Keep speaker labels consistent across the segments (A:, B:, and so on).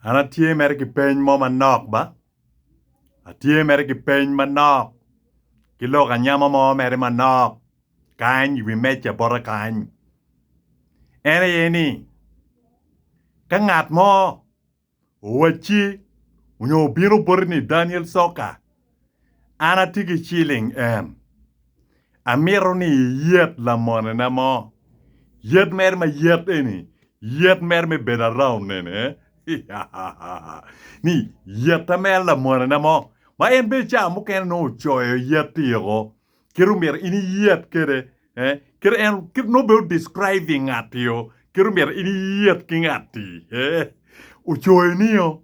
A: An atye mere ki peny mo manok ba, atye mere ki peny manok ki lok anyama mo mere manok kany i wi meja bota kany. En aye ni ka ngat mo owacci onyo obino boti ni Daniel Soccer An atye ki ciling en. Amito ni iyet lamonena mo. Yet mere ma yet eni, yet mere me bedo around nene. ni yeta mere lamonena mo. Ma en bene ca mukene nongo ocoyo yet tiko. Kit omyero in iyet kede. Eh? Kit en, kit nongo bene describing ngat-tio. Kit omyero in iyet ki ngat-ti. Eh? Ocoyo nio.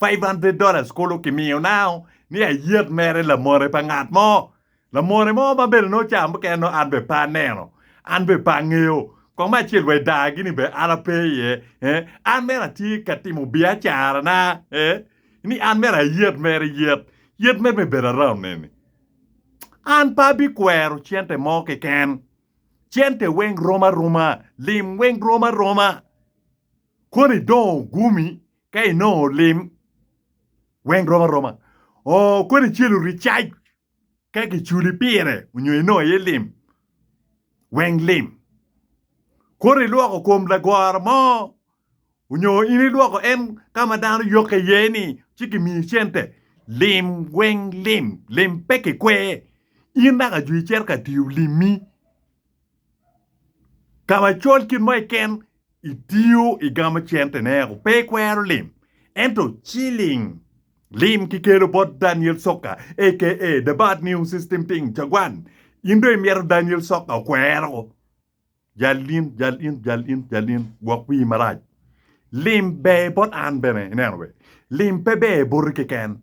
A: Five hundred dollars kulu kimiyo nao ni ayet mere lamone pa ngat mo, lamone mo ma bene nongo ca mukene nongo an bene pe aneno, an bene pe angeyo kong me acel wa i daa gini bene an ape iye eh, an mere atye ka timo biacara na eh ni an mere ayet mere yet, yet mere me bedo around neni. An pe abi kwero cente mo keken, cente weng rom aroma, lim weng rom aroma, koni dong ogumi Ka inongo lim weng rom aroma, oo kodi celu ricac ka giculi pire onyo inongo aye lim weng lim. Kodi ilwoko kom lagoro mo onyo in ilwoko en ka ma dano yokke iye ni ci gimiyi cente. Lim weng lim, lim pe kikwer. In naka jwi icito ka tiyo limmi. Ka macol kit mo keken itiyo i gamo cente ne o pe ikwero lim ento ciling lim ki kelo bot Daniel soka aka the bad new system thing cagwan in dong imito Daniel soka okwero o jal in jal in jal in jal in gwok wii marac lim ber bot an bene ineno be lim pe ber boti keken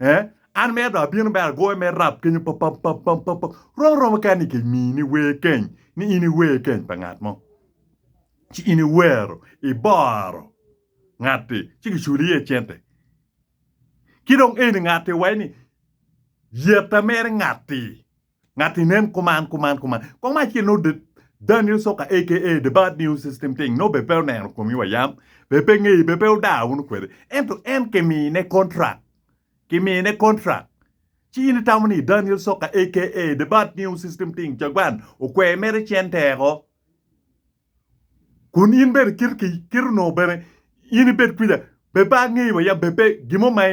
A: Eh? An mere do abino mere agoyo me rap kenyo pap pap pap pap pap pap. Romo romo kani ni kimi ni wer keny ni in iwer keny pa ngat mo. Ci in iwero iboro ngatti ci kiculi iye cente. Ki dong eni ngatti waci ni yeta mere ngatti. Ngat ni nen kuman kuman kuman. Kong acel no Daniel Soka aka The Bad News System Ting no be pe oneno komi wa yam be pe ngeyi be pe odaa wunu kwede ento en ki mine contract ki mine contract ci in itamo ni Daniel Soka aka The Bad News System Ting Cagwan okwer mere cen teko Kun in bene kit ki kit onongo bene in ibed kwija, pe pe angeyi wa yam pe gin mo ma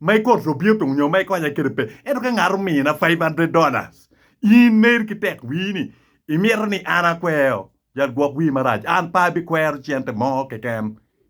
A: ma ikoto to bino timo nyo ma ikonya kede pe. Ento ka ngat omina five hundred dollars, in ner ki tek wii ni imito ni an akweo, yat gwok wii marac, an pe abikwero cente mo keken.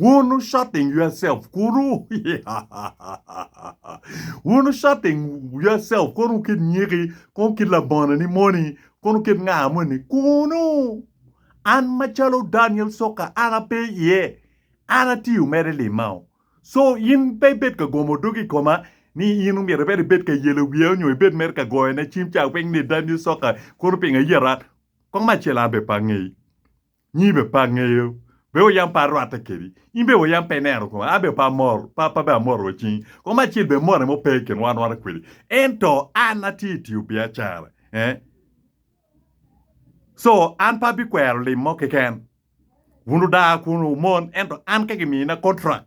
A: Wunu shutting yourself kunu wunu shutting yourself kunu kit nyiki kunu kit labonani moni kunu kit nga moni kunu an macalo Daniel Soka an ape iye an atiyo mere limao so in pe ibed ka gomo dogi ikoma ni in omyero ibed ibed ka yelo wiya onyo ibed mere ka goyone cim ca weng ni Daniel Soka kunu pingo iyeta kong me acel an be pe angeyi Nyi be pe angeyo, be wa yam pe arwatte kedi, in bene wa yam pe ineno koma, an bene pe amor, pe abbe amor wa cing, koma acel bene morre mo pe i kin wa anwata kwedi, ento an atye i tiyo biacara, eh, co, an pe abikwero lim mo keken, wun wudaa kun wumon, ento an ka gimina contract,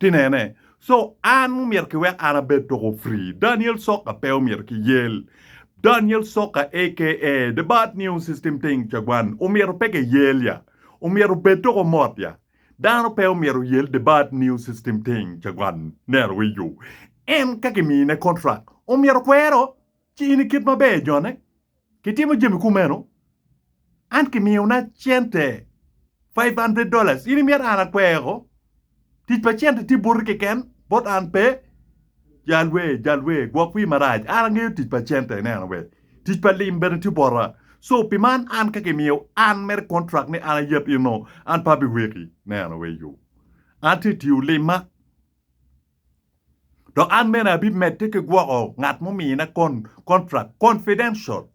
A: Tinene. So an omyero ki wek an abed toko free. Daniel soka pe omyero ki yel. Daniel soka aka the bad new system thing cagwan omyero pe ke yel ya. Omyero obed toko mot ya. Dano pe omyero oyel the bad new system thing cagwan nero wiyo. En ka ki mine contract omyero kwero. ci in ikit maber jone, kitimo jami kumeno, an kimiyona cente five hundred dollars, in imyero an akweko? Tic pa cente tye boti keken, bot an pe. Jal wer, jal wer, gwok wir marac, an angeyo tic pa cente, ineno bene, tic pa lim bene tye bota. So pi man an ka kimiyo an mere contract ni an ayeb in nongo an pe abiweki, ineno wee yo. An tye tiyo limma, Dok an bene abimedde ki gwoko ngat mumina kontrak confidential,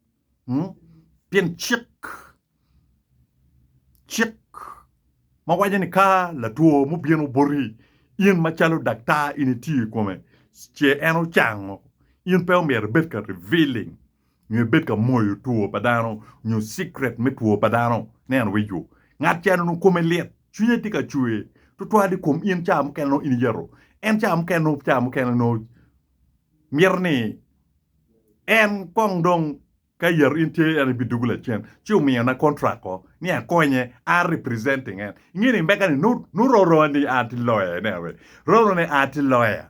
A: pien cik cik ma waco ni ka latwo mubino boti, in macalo daktar in itiyo i kome ce en ocango, in pe omyero ibed ka revealing nyo ebed ka moyo two pa dano nyo cikret me two pa dano, ne anwico. Ngat ca nongo kome lit, cwinye tye ka cwer twatwal i kom in ca mukene nongo in iyeto. En ca mukene nongo ca mukene nongo mito ni en kong dong ka iyeto in tye en ibidugo lacen ci omiyo na contract ko ni akonye a representing en. Inge ni mega ni nongo roro ni a tye lawyer ne anyway roro ni a tye lawyer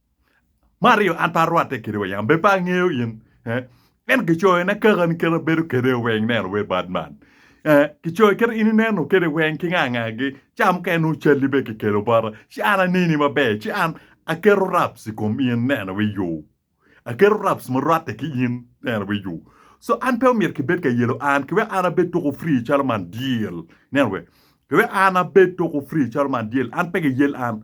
A: Me aryo, an pe arwatte kede weng, an bene pe angeyo in. Eh, Ento kicoyo na kaka ni kite abedo kede weng neno wer bad man. Eh, Kicoyo kite in ineno kede weng ki nga ngagi, ci an mukene nongo calli bene kikelo bota, ci an aneni maber, ci an aketo raps i kom in neno wi yo. Aketo raps ma rwatte ki in neno wi yo. So an pe omyero kibed ka yelo an ki wek an abed tuko free calo man dyel. Neno wer. Ki wek an abed tuko free calo man dyel, an pe giyel an.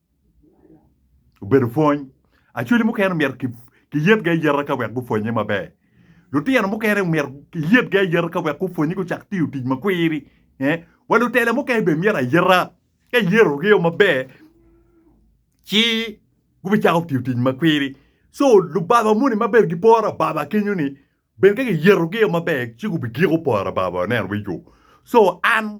A: obedo pwony. Acholi mukene omyero kiyet gi ayeta ka wek gupwonye maber. Lutino mukene omyero kiyet gi ayeta ka wek gupwonye gucak tiyo tic ma kwiri. Wa lutela mukene bene myero ayeta ka iyeto gi o maber ci gubicako tiyo tic ma kwiri. Co lubaba moni ma bene giporo ababa kenyo ni bene ka kiyeto gi o maber ci gubigiko poro ababa neno weko. Co an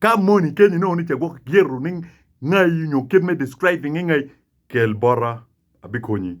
A: Ka moni kenyi nongo ni ce gwok gyeto ni ngai nyo kit me describing ngai, kel bota abikonyi.